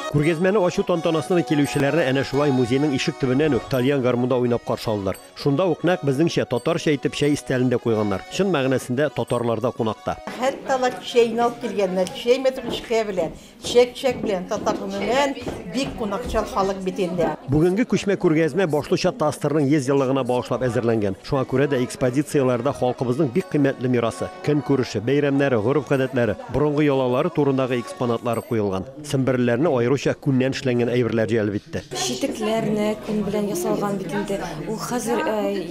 Күргәзмәне ачу тантанасына килүчеләрне әнә шулай музейның ишек төбеннән үк тальян гармунда уйнап каршы алдылар. Шунда ук нәкъ безнеңчә татарча итеп чәй истәлен дә куйганнар. Чын мәгънәсендә татарларда кунакта. Хәтта алар чәйне алып килгәннәр, чәй мәтрүшкә белән. Чәк-чәк белән татар гомумән бик кунакчыл халык бит инде. Бүгенге күчмә күргәзмә башлыча ТАССРның 100 еллыгына багышлап әзерләнгән. Шуңа күрә дә экспозицияләрдә халкыбызның бик кыйммәтле мирасы, көнкүреше, бәйрәмнәре, гореф-гадәтләре, борынгы ялалары турындагы экспонатлары куелган. Семберлеләрне аеруча күннән эшләнгән әйберләр җәлеп итте. Читекләрне күн белән ясалган бит инде. Ул хәзер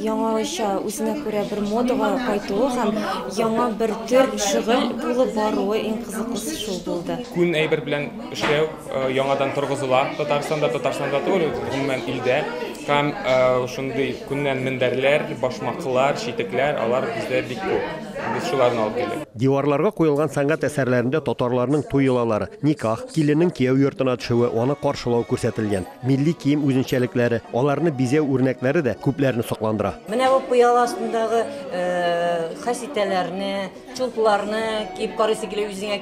яңача, үзенә күрә бер модага кайтуы һәм яңа бер төр шөгыль булып баруы иң кызыклысы шул булды. Күн әйбер белән эшләү яңадан торгызыла Татарстанда, Татарстанда түгел, гомумән илдә. Һәм шундый күннән мендәрләр, башмаклар, читекләр, алар бездә бик күп. Без шуларны алып килдек. Диварларга куелган сәнгать әсәрләрендә татарларның туй йолалары, никах, киленнең кияү йортына төшүе, аны каршылау күрсәтелгән. Милли кием үзенчәлекләре, аларны бизәү үрнәкләре дә күпләрне сокландыра. Менә бу пыяла астындагы хәситәләрне, Чулпларны киеп карыйсы килә үзеңә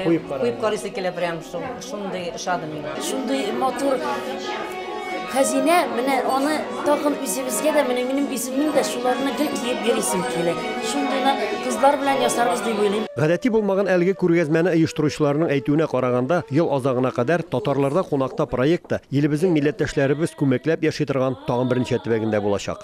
куеп карыйсы килә прям шундый ошады миңа. Шундый матур хәзинә, менә аны тагын үзебезгә дә, менә минем үземнең дә шуларны гел киеп йөрисем килә. Шундыйны кызлар белән ясарбыз дип уйлыйм. Гадәти булмаган әлеге күргәзмәне оештыручыларның әйтүенә караганда, ел азагына кадәр Татарларда кунакта проекты илебезнең милләттәшләребез күмәкләп яши торган тагын берничә төбәгендә булачак.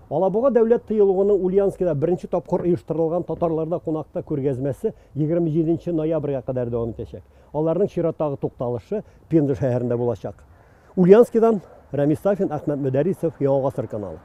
Алабуга дәүләт тыюлыгының Ульяновскида беренче тапкыр оештырылган татарларда кунакта күргәзмәсе 27 нче ноябрьгә кадәр дәвам итәчәк. Аларның чираттагы тукталышы Пенза шәһәрендә булачак. Ульяновскидан Рәмис Сафин, Әхмәт Мөдәрисов, Яңа гасыр каналы.